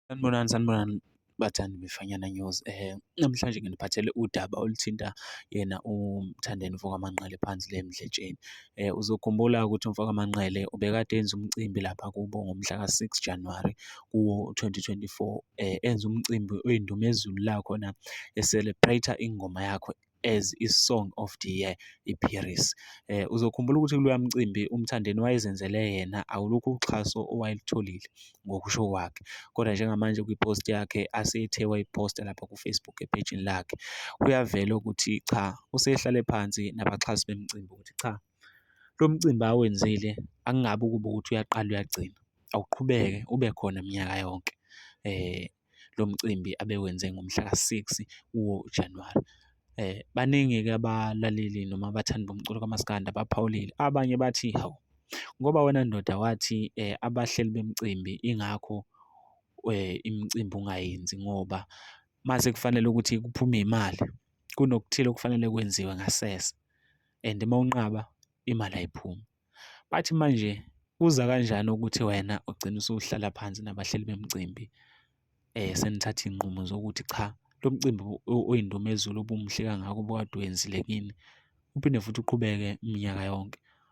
Sanibonani, sanibonani bathandi befanyana news eh namhlanje nginiphathele udaba oluthinta yena uMthandeni Vukamanqale phansi le emdletsheni Eh, uzokhumbula ukuthi umfoka Manqele ubekade enza umcimbi lapha kubo ngomhla ka-6 January kuwo 2024 eh, enza umcimbi oyindumezulu la khona e-celebrate ingoma yakho as i-song of the year iPiris. Eh, uzokhumbula ukuthi kuloya mcimbi uMthandeni wayezenzele yena awulukho uxhaso owayelutholile. ngokusho kwakhe. Kodwa njengamanje kwi-post yakhe asethe wayi-post-a lapha ku-Facebook ephejini lakhe, kuyavela ukuthi cha, usehlale phansi nabaxhasi bemicimbi ukuthi cha, lo mcimbi awenzile akungabi ukuba ukuthi uyaqala uyagcina, awuqhubeke ube khona minyaka yonke . lo mcimbi abewenze ngomhlaka 6 woJanuwari. Baningi-ke abalaleli noma abathandi bomculo kamaskandi abaphawulile, abanye bathi, hawu ngoba wena ndoda wathi abahleli bemicimbi ingakho imicimbi ungayenzi ngoba uma sekufanele ukuthi kuphume imali kunokuthile okufanele kwenziwe ngasese and uma unqaba imali ayiphumi. Bathi manje kuza kanjani ukuthi wena ugcine usuhlala phansi nabahleli bemicimbi senithatha iy'nqumo zokuthi cha lo mcimbi oyindumezulu obumuhle kangaka obukade uwenzile kini uphinde futhi uqhubeke minyaka yonke?